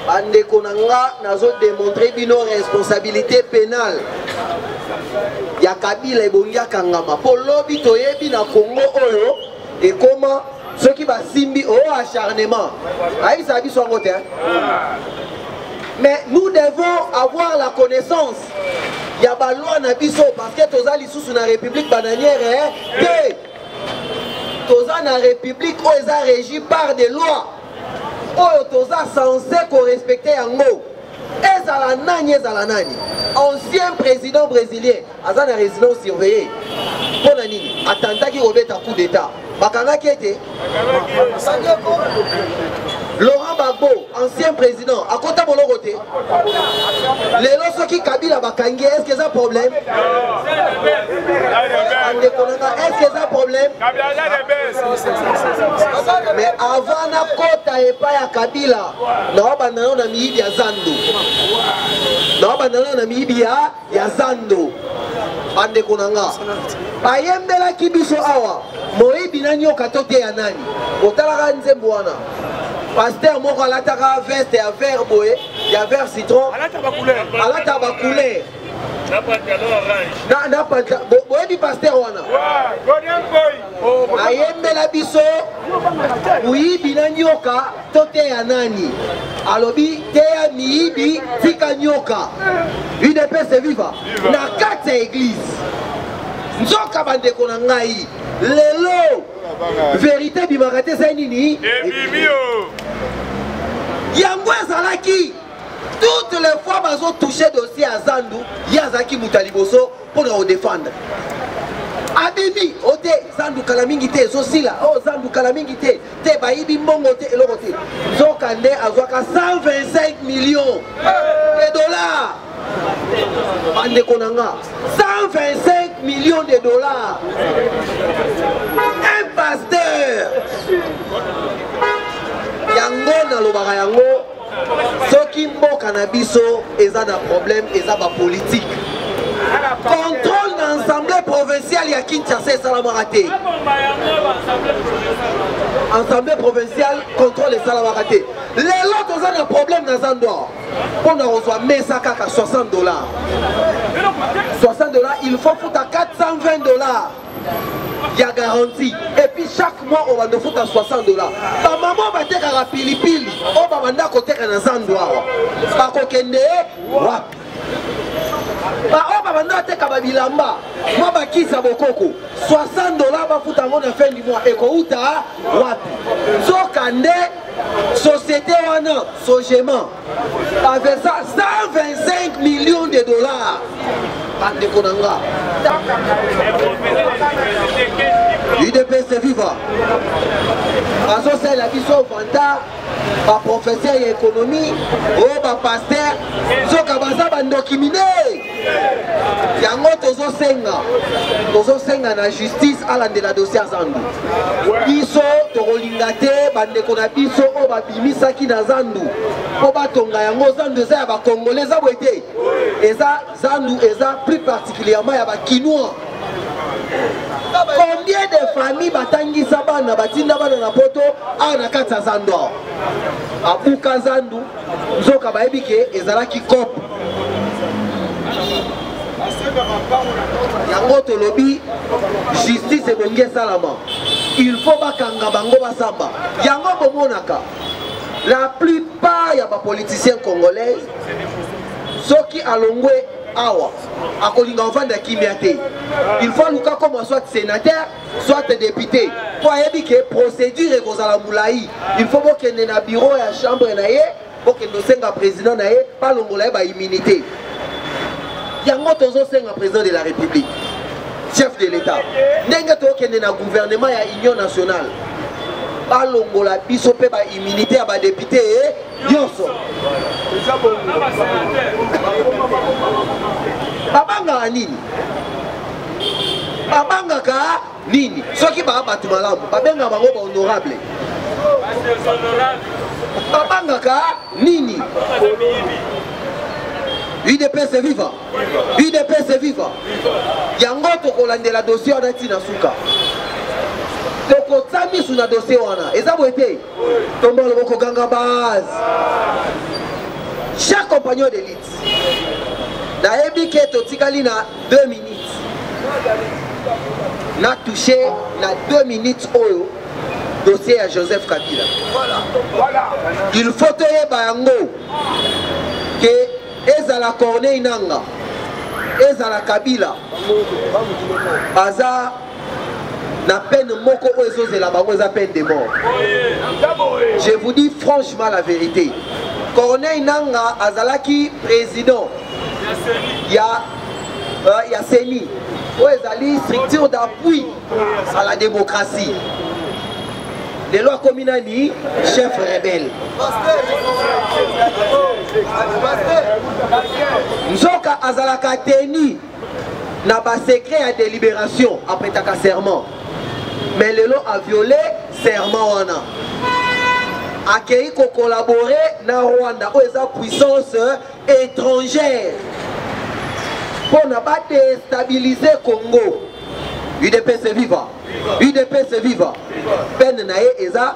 bandeko na nga nazodemontre bino responsabilité pénale ya kabila ebongi akangama mpo lobi toyebi na kongo oyo ekoma soki basimbi o oh, acharnement ayebisaka biso yango te mais nous devons avoir la connaissance ya baloi na biso parce que toza lisusu na république bananière eh, te toza na république oyo oh, eza régi par des lois oyo oh, toza censé korespecte yango ezala nani ezala nani ancien président brésilien aza na résidence surveillée mpo na nini atantaki kobeta coup d'état bakangaki ete laurent bagbo ancien président akota boloko te lelo soki kabila bakangi ye estce eza problème bandeko na nga estce eza problème mais avant nakota epai ya kabila naobanda nao na miyibi ya zando naobanda nao na miyibi ya ya zando bandeko na nga bayembelaki biso awa moyibi na nyoka to te ya nani otalaka nzembo wana paster moko alataka veste ya vert boye ya vert citron alata bacouleur boyebi paster wana ayembela biso moyibi na nyoka toteya nani alobi teya miyibi tika nyoka udps eviva na kati ya eglize nzoka bandeko na ngai lelo verité ebimaka te ezali nini yango ezalaki toutes les fois bazotouche dossier ya zandu ye azalaki moto ya liboso mpo na kodefendre abimi o te zandu kala mingi te ezosila o oh, zandu kala mingi te te bayibi mbongo te eloko te nzoka nde azwaka 125 millions de dollars bandeko na nga 125 millions de dollars un pasteur yango nalobaka yango soki mboka na biso eza na problème eza bapolitike contrôle na assemblée provinciale ya kinshasa esalamaka te assemblée provinciale contrôle esalamaka te lelo toza na problème na zandor mpo na kozwa mesa kaka 60 dollars 60 dollars il faut futa 420 dollars ya garantie epuis chaque mois obanda ofuta 60 dollar bamama batekaka pilipili oyo babanda koteka na zando awa bakokende wapi baoyo babanda bateka babilamba mwa bakisa bokoko 60 dollar bafuta yango na fin du mois ekouta wapi nzoka nde société wana sogement avec ça 125 millions de dollars bandeko na nga udps viva azosalela biso vanta baprofesseur ya ekonomi oyo bapaster nzoka baza bandoki minei yango tozosenga tozosenga na justice alandela dossier ya zandu biso tokolinga te bandeko na biso oyo babimisaki na zandu mpo batonga yango zandu eza ya bakongole eza boye te eza zandu eza plus particulièrement ya bakinois combien de famille batangisa bana batinda bana na poto awa na kati ya zandu awa abuka zandu Nzoka bayebi ke ezalaki cop yango tolobi justice ebongi esalama il faut bakanga bango basamba yango bomonaka la plupart ya bapoliticien congolais soki alongwe awa akolinga ovanda kimia te il faut aluka koma soit sénateur soit député mpo ayebi ke procédure ekozala molai il faut bokende na bureau ya chambre na ye bokende osenga président na ye balongola ye baimmunité yango tozosenga président de la république chef de l'état ndenge tokende na gouvernement ya union nationale balongola biso mpe baimmunité ya badepute nyonso babangaka nini babangaka nini soki baa bato malamu babengaka bango bahonorable babangaka nini udps viva udps viva yango tokolandela dossier wana ntina suka tokotsa misu na dossier wana eza boye te tombola loboko ganga base cher compagnon de lite nayebi ke totikali na 2 minutes na touche na 2 minutes oyo dossier ya joseph kabila il faut toyeba yango ke ezala corneille nanga ezala kabila baza na peine moko oyo ezozela bango eza peine de mort je vous dis franchement la vérité corneille nanga azalaki président ya euh, ya ceni oyo ezali structure d'appui à la démocratie lelo akomi nani chef rebelle nzoka azalaka teni na ba secret ya délibération apretaka serment mais lelo aviole serment wana akei kokolabore na rwanda oyo eza puissance étrangère mpo na badestabilize congo udps viva udps viva pene na ye eza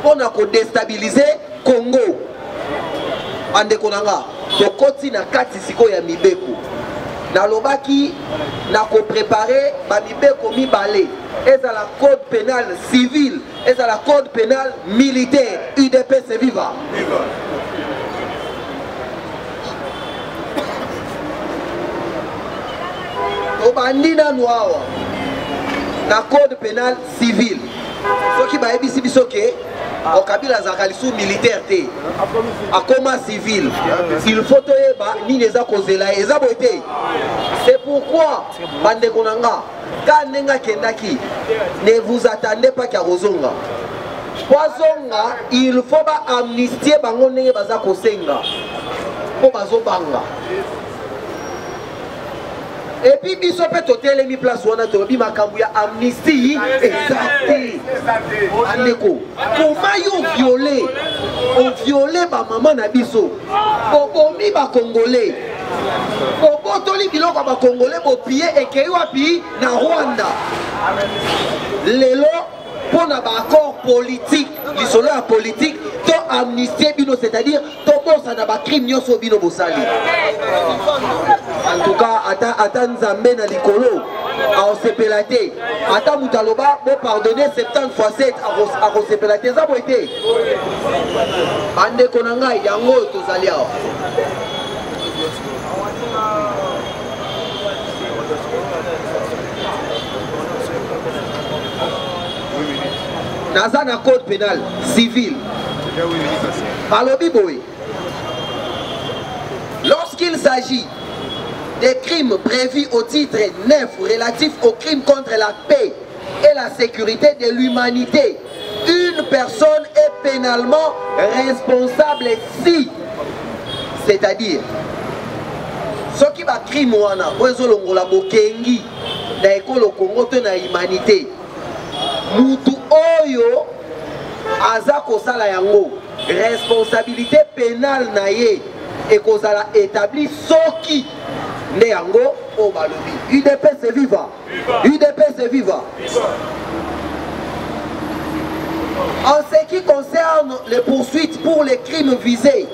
mpo na kodestabilize congo bandeko na nga tokoti na kati sikoyo ya mibeko nalobaki na koprepare bamibeko mibale ezala code pénal civil ezala code pénal militaire udps viva, viva. tobandi nanu awa na code pénal civil soki bayebisi biso ke o kabila azalaka lisusu militaire te akoma civil il faut toyeba nini eza kozela ye eza boye te c'est pourquoi bandeko na nga ka ndenge akendaki ne vous attendez pas kya kozonga po azonga il faut ba amnistie bango ndenge baza kosenga mpo bazobanga epi biso mpe totelemi place wana tolobi makambo ya amnistie eza te bandeko koma yo viole oviole bamama na biso obomi bakongole obotoli biloko ya bakongole bopiye ekei wapi na rwanda lelo mpo na baaccord politique lisolo ya politique to amnistie bino c'est-à-dire tobosana bacrime nyonso oyo bino bosali antuka ata, ata nzambe na likolo akosepela te ata moto aloba bopardonne 70 fois 7 akosepela te eza boye te bandeko na ngai yango oyo tozali awa naza na code pénal civil alobi boye lorsqu'il s'agit des crimes prévus au titre 9 relatifs aux crimes contre la paix et la sécurité de l'humanité une personne est pénalement responsable si c'est-à-dire soki bacrime wana oyo ezolongola bokengi na ekolo congo to na humanité mutu oyo aza kosala yango responsabilité pénale na ye ekozala établi soki nde yango oyo balobi udps viva udps viva en ce qui concerne les poursuites pour les crimes visés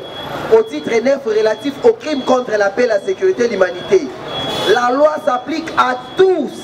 au titre 9 relatif aux crimes contre la paix la sécurité l'humanité la loi s'applique à tous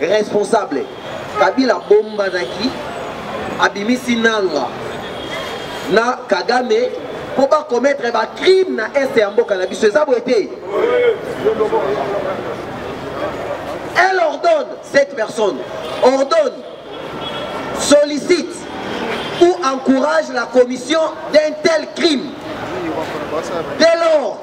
responsable kabila abombanaki abimisi nanga na kagame mpo bakometre bacrime na este ya mboka na biso eza boye te elle ordonne cette personne ordonne sollicite ou encourage la commission d'un tel crime dès lors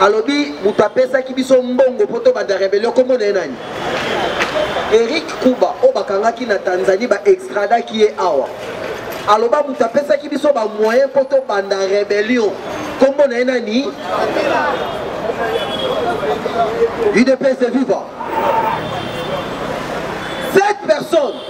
alobi moto apesaki biso mbongo mpo tobanda rebellion nkombo na ye nani eric kuba oyo bakangaki na tanzanie baextradaki ye awa aloba moto apesaki biso bamoyen mpo tobanda rebellion nkombo na ye nani udps de viva cette personne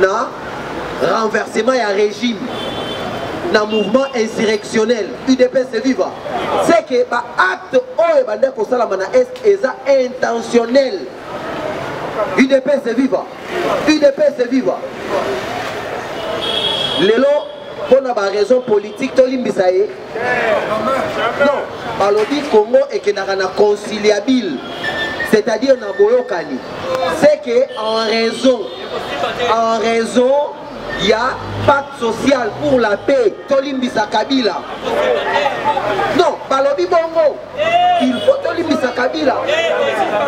na renversement ya régime na mouvement insurrectionnel udps viva c'est que baacte oyo ebanda kosalama na est eza intentionnel udps viva udps viva lelo mpo na baraison politique tolimbisa ye non balobi congo ekendaka na conciliabile c'est-à-dire na boyokani c'est que en raison en raison ya pacte social pour la paix tolimbisa kabila non balobi bongo il faut tolimbisa kabila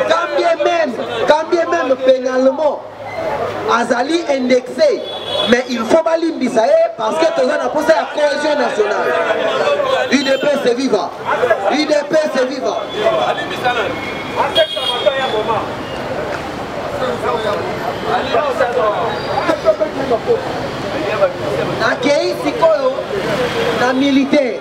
quand bien même quand bien même pénalement azali indexe mais il faut balimbisa ye parce que toza na mposa ya cohésion nationale udps viva udps viva nakei sikoyo na militaire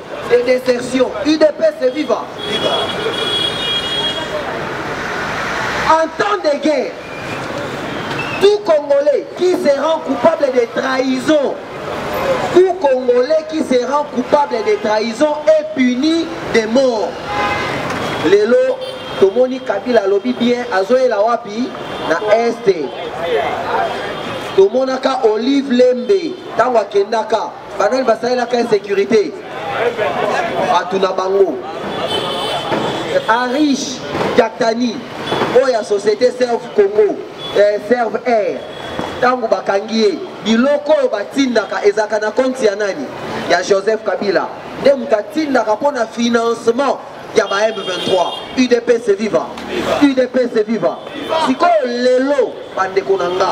et d'insertion. UDPS et viva. En temps de guerre, tout Congolais qui se rend coupable de trahison, tout Congolais qui se rend coupable de trahison est puni de mort. Lelo, tomoni Kabila lobi bien, azoyela wapi na Est. tomonaka olive lembe ntango akendaka banani basalelaka insécurité bato na bango arish jaktani oyo ya société serve congo eh, serve air ntango bakangi ye biloko oyo batindaka ezalaka na konti ya nani ya joseph kabila nde moto atindaka mpo na financement ya ba m23 udps viva udps viva sikoyo lelo bandeko na nga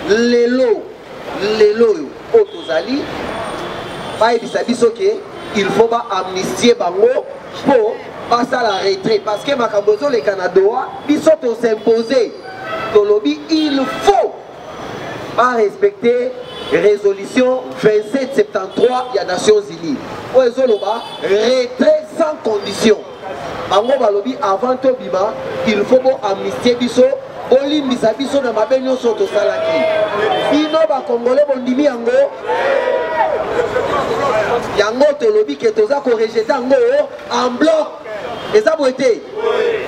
lelo lelo oyo oyo tozali bayebisa biso ke il faut ba amnistie bango mpo basala retrait parce que makambo ezoleka na doha biso tosimpose tolobi il faut barespecte résolution 2773 ya nations unies oyo ezoloba retrait sans condition bango balobi avant tobima il faut bo amnistie biso bolimbisa biso na mabe nyonso oyo tosalaki bino bakongole bondimi yango yango tolobi ke toza korejete yango en bloc eza boye te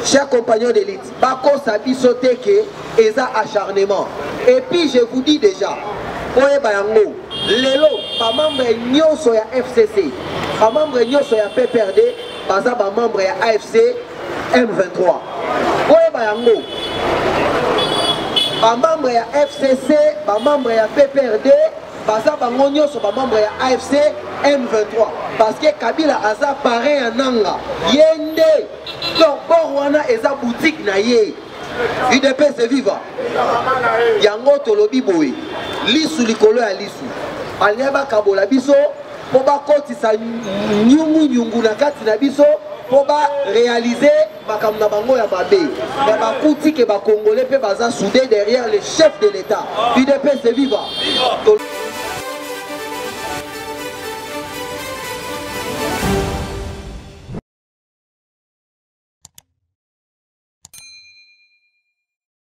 cher compagnon d'élite bakosa biso te ke eza acharnement et puis je vous dis déjà oyeba yango lelo bamembre nyonso ya fcc bamembre nyonso ya pprd baza ba membre ya AFC M23 boyeba yango ba membre ya FCC ba membre ya PPRD baza bango nyonso bamembre ya afc m23 parce que kabila aza parrain ya nanga ye nde donc bor wana eza boutique na ye udps eviva yango tolobi boye lisu likolo ya lisu balingai bakabola biso mpo bakotisa nyungunyungu na kati na biso mpo barealize makambo na bango ya mabe me bakuti ke bakongole mpe baza soude derrière le chef de l'état udps viva